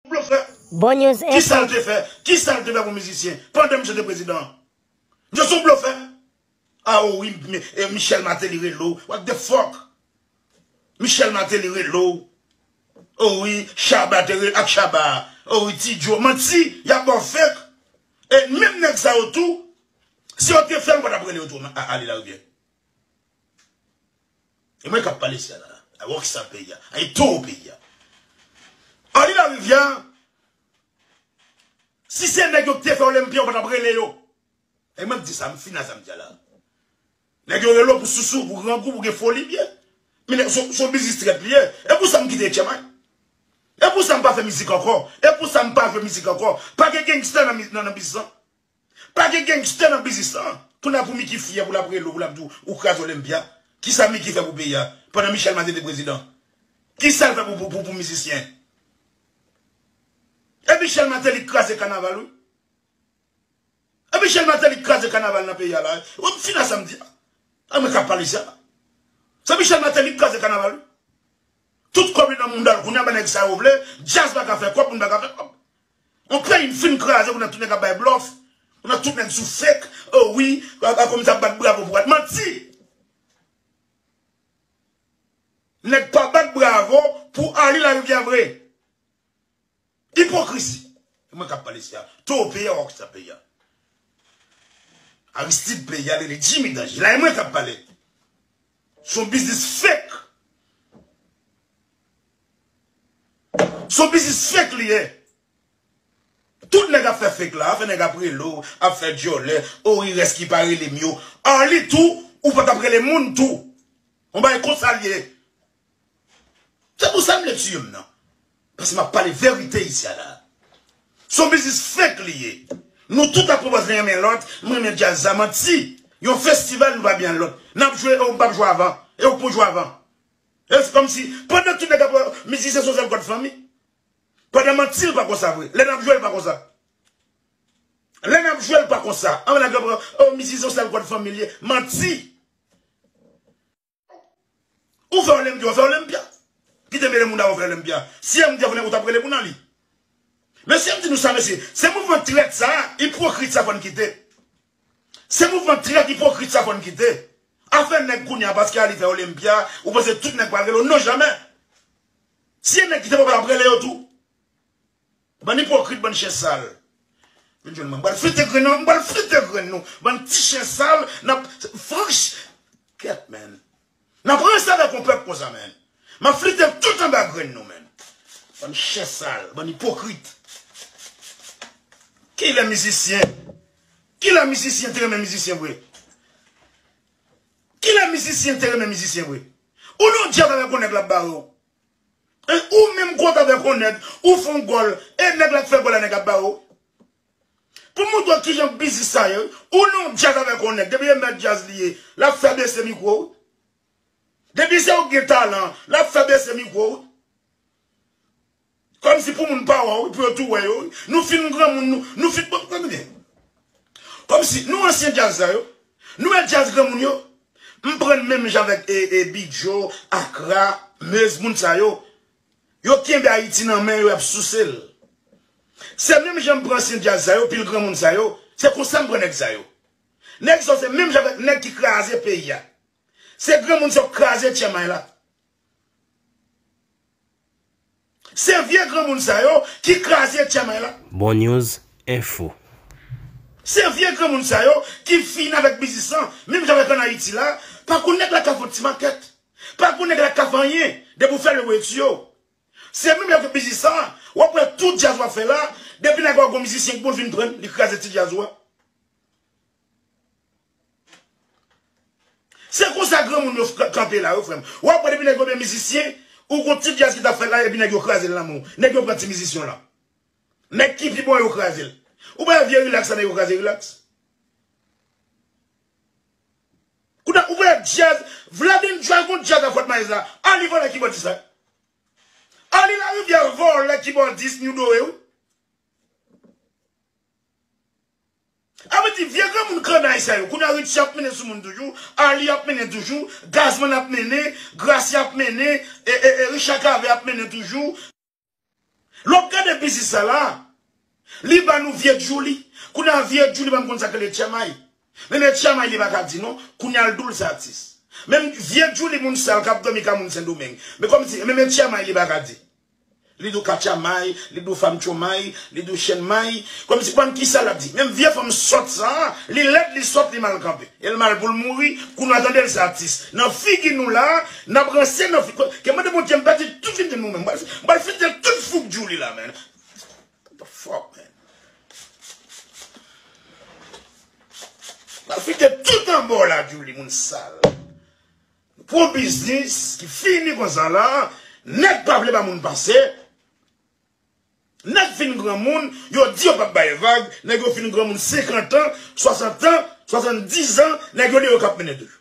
Blofè. Bon news info. Kisal te fè? Kisal te fè pou mizisyen? Pandan misye te prezidan an? Misye son blofè. Ah o wi Michel Martelly rele w. What the fuck? Michel Martelly rele w. O wi Shabba te rele ak Shabba a. O wi Ti Joe. Manti. Yap baw fake. E menm nèg sa yo tou si yo te fè l ou pa tap rele yo tou ale la rivyè. E mwen kap pale sè la. A wòk sa peyi ya. A yi towo peyi ya. Anri la rivya. Si se nèg yo ki te fè olenpia yo patap rele yo. E mwen di sa m fina sa m di la. Nèg yo rele yo pou sousou, pou grangou, pou gen foli byen. Men son biznis trèt li ye. E pou sa m kite etchèman. E pou sa m pa fè mizik ankò. E pou sa m pa jwe mizik ankò. Pa gen gangster nan biznis lan. Pa gen gangster nan biznis lan. Kounye a pou Micky fyè pou lap rele w pou lap di w ou kraze Olympia. Kisa Micky fè pou peyi a pandan Michel Mathe te prezidan? Kisa l fè pou mizisyen? E Michel Mathelly k kraze kanaval wi. E Michel Mathelly k kraze kanaval nan peyi a la. Ou wè fina sa m di a? E mwen kap pale sa. Se Michel Mathelly k kraze kanaval wi. Tout kòb li nan mounda l. Kounye a ba nèg sa yo vle. Djaz pa ka fè kòb moun pa ka fè kòb. On peyi n fin kraze pou nan tout nèg ap bay blòf, pou nan tout nèg sou fake, oh wi Akoum sa ap bat bravo pou wad. Manti! Nèg pa bat bravo pou Arly Larivière vre. Ipokrizi! E mwen kap pale sia, toro peyi a wap kisa peyi a. Aristide peyi a rele Jimmy Danje la e mwen kap pale. Son biznis fake. Son biznis fake li ye. Tout nèg ap fè fake la, afè nèg ap rele w, ap fè dyòlè, o ri rès ki pa rele m yo. Arly tou, ou pa t ap rele moun tou. On bagay konsa l ye. Se pou sa m vle tiye m nan. Paske m ap pale verite isi a la. Son biznis fake li ye. Nou tout ap pwopòz len renmen lòt, m renmen djaz sa, manti. Yon festival nou pa byen al lòt. N ap jwe e ou m p ap jwe avan. E ou k pou jwe avan. E se kòm si pandan tout nèg ap wè mizisyen son sèl kòd fanmi. Pandan manti l pa konsa vre. Lè n ap jwe l pa konsa. Lè n ap jwe l pa konsa. Anvan nèg yo pran oh mizisyen son sèl kòd fanmi l ye. Manti. Ou fè olenpya ou fè olenpya. Ki te mele moun avè w fè olenpya. Si MD ap vini ou t ap rele pou nan li. Mesye m di nou sa mesye. Se mouvman trèt sa, ipwokrit sa fò n kite. Se mouvman trèt ipokrit sa fòn kite. Afè nèg kounya paske ali fè olympia ou panse tout nèg pral rele w non jamè. Si gen nèg ki te papa lap rele yo tou. Bann ipokrit bann chen sal. Vin jwenn mwen mpral frite grenn nan mpral frite grenn nou bann ti chen sal nap franch kèt menn. Nap ranse avek yon pep konsa menn. Map flite tout anba grenn nou menn. Bann chen sal, bann ipokrit. Kilè mizisyen, kilè mizisyen te renmen mizisyen vre? Kilè mizisyen te renmen mizisyen vre? Ou nan yon jazz avek yon neg lap bare w. Ou menm kontre avek yon neg, ou fon gol, e neg la k fe gol la neg ap bare w. Pou moutre w kijan biznis sa ye wi. Ou nan yon djaz avèk yon nèg, depi e mèt djaz li ye, l ap fè bese mikwo wi. Depi se ou ki gen talan an, l ap fè bese mikwo wi. Kòmsi pou moun pa wè w wi, pou yo tou wè yo wi. Nou fin granmoun nou, nou fin bon, tande byen. Kòmsi nou ansyen djaz sa yo, nou e djaz granmoun yo. M pran n menm jan avèk e Bidjo, Akra, Mez, moun sa yo. Yo kenbe ayiti nan men yo yap souse l. Se menm jan m pran ansyen djaz sa yo, pil granmoun sa yo, se konsa m pran nèg sa yo. Nèg sa yo se menm jan avèk nèg ki kraze peyi a. Se granmoun sa yo k kraze tyè may la. Se vye granmoun sa yo ki kraze tyè may la. Bon news info. Se vye granmoun sa yo ki fini avèk biznis lan, menm jan avèk an ayiti la, pa konn nèg la ka fon ti makèt. Pa pou nèg la ka fè anyen depi ou fèl wè tu yo se menm lè fè biznis sa wap wè tout djaz wap fè la depi nan gògò mizisyen ki pou vin prann li kraze ti djaz ou a se konsa granmoun yo kanpe la wi frèm wap wè depi nèg yo gen mizisyen ou gon ti djaz ki tap fèt la epi nèg yo krazel nan menw nèg yo pran ti mizisyen w lan nèg ki pi bon an yo krazel ou pa wè vye rilaks sa nèg yo kraze rilaks. Kounya ou voye dyaz Vladin jwel kon dyaz nan fòt maez la a li vòlè kibòdis la Arly lariviere vòlè kibòdis new dore wi A vle di vye granmoun kannay sa yo kounya Richie ap mennen sou moun toujou Arly ap mennen toujou Gazman ap mennen Gracia ap mennen Richard Cavé ap mennen toujou. Lè wap gade biznis sa la, li ba nou vye djouli, kounya vye djouli pa m konn sak rele tchamay. Men le tchamay li pa ka di non, kounya l di w l se atis. Men vye djouli moun sal kap domi kay moun sendomeng. Men kòm si, men men tchamay li pa ka di. Li di w katchamay, li di w fanm tchomay, li di w chen may, kòm si bann kisa lap di. Menm vye fanm sòt sa, li lèd, li sòt, li mal kanpe. E l mal pou l mouri, kou nou a tande l se atis. Nan figi nou la, Nap ranse nan figure. Ke mande Bondye m pèdi tout figure nou menm. M pral fidel tout fugdjou li la man. What the fuck man. M pral fidel tout anba w la Djouly moun sal. Nou pran yon biznis ki fini konsa la. Nèg pa vle ba moun pase. Nèg fin granmoun yo di yo pap bay vag. Nèg yo fin granmoun 50 ans, 60 ans, 70 ans nèg yo di yo kap mennen toujou.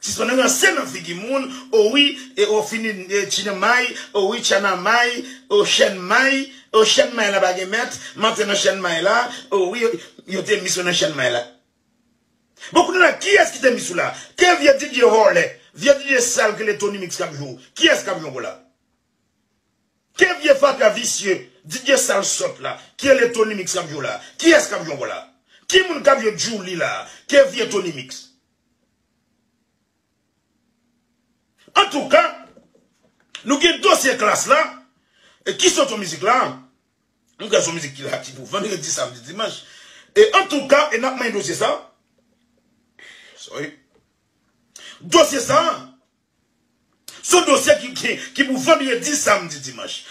Sispann ranse nan figi moun o wi e o fini tchina may o wi tchana may o chèn may o chèn may la pa gen mèt m antre nan chèn may la o wi yo te mis ou nan chèn may la bon kounya la kiyès ki te mis ou la ke vye DJ vòlè vye DJ sal ki rele Tonymix kap jwe w kiyès kap jwe w la ke vye fatra visye DJ sal sòt la ki rele Tonymix kap jwe w la kiyès kap jwe w la ki moun kap jwe Djouly la ke vye Tonymix Antouka, nou gen dosye klas la, e ki sot sou mizik la, nou gen sou mizik ki la ki pou vandredi, samdi, dimanch, e antouka, e nap manyen dosye sa, sorry, dosye sa, son dosye ki pou vandredi, samdi, dimanch.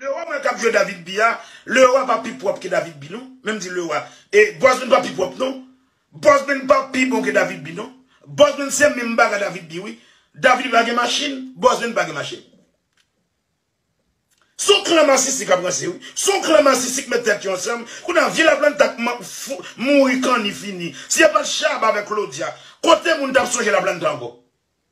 Leroy mwen kap jwe David bi a Leroy pa pi pwòp ke David bi non menm di Leroy e Bosman pa pi pwòp non Bosman pa pi bon ke David bi non Bosman se menm baga David bi wi David pa gen machin Bosman pa gen machin son klan masisi kap ranse wi son klan masisi k met tèt yo ansanm kounye a vye laplanta k mouri kanni fini si yo pat Shabba avèk Claudia kote moun tap sonje laplanta ankò.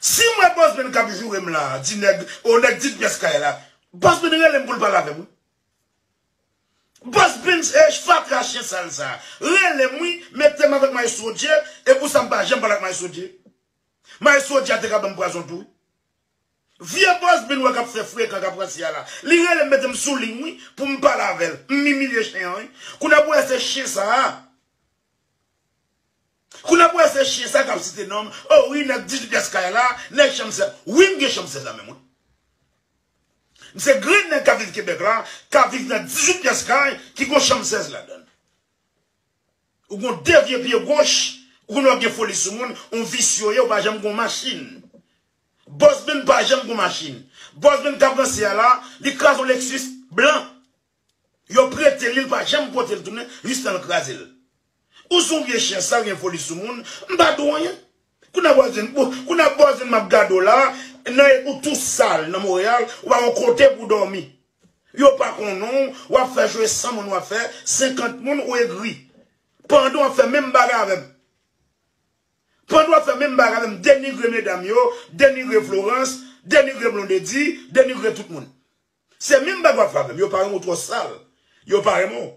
Si m wè Bosben k ap joure m la a, di nèg, o nèg di pyès kay la, Bosben rele m pou l pale avè m wi. Bosben fatra chyen sal sa a, rele m wi, mete m avèk Maestro Dje, e pou sa m pa janm pale ak Maestro Dje. Maestro Dje a te ka ban m pwazon tou wi. Vye bòs bin wè kap fè frekan kap ranse a la li relem metem sou ligne wi poum pale avèl m imilye chen an wi kounye pou wè se chen sa kounye pou wè se chen sa kap site nonm oh wi nèg 18 pyès kay la nèg chanm 16 wi m gen chanm 16 la menm wi m se grenn nèg kap viv Québec la kap viv nan 18 pyès kay ki gon chanm 16 ladann. Ou gon de vye pye goch, ou konnen wap gen foli sou moun, on visye ou ye ou pa janm gon machin. Bosben pa janm gon machin. Bosben kap ranse a la, li kraze on lexus blan. Yo prete li, li pa janm potel tounen jistan l krazel. Ou son vye chyen sal gen foli sou moun, m pa di w anyen. Kounya bòzin bon kounya bòzin map gadew la nan ou tou sal nan Montréal ou pa gon kote pou dòmi yo pa konnenw wap fè jwe san moun wap fè 50 moun ou egri pandan wap fè menm bagay avèm pandan wap fè menm bagay avèm denigre medam yo denigre Florence denigre Blondedy denigre tout moun se menm bagay wap fè avèm yo pa renmenw ou twò sal yo pa renmenw.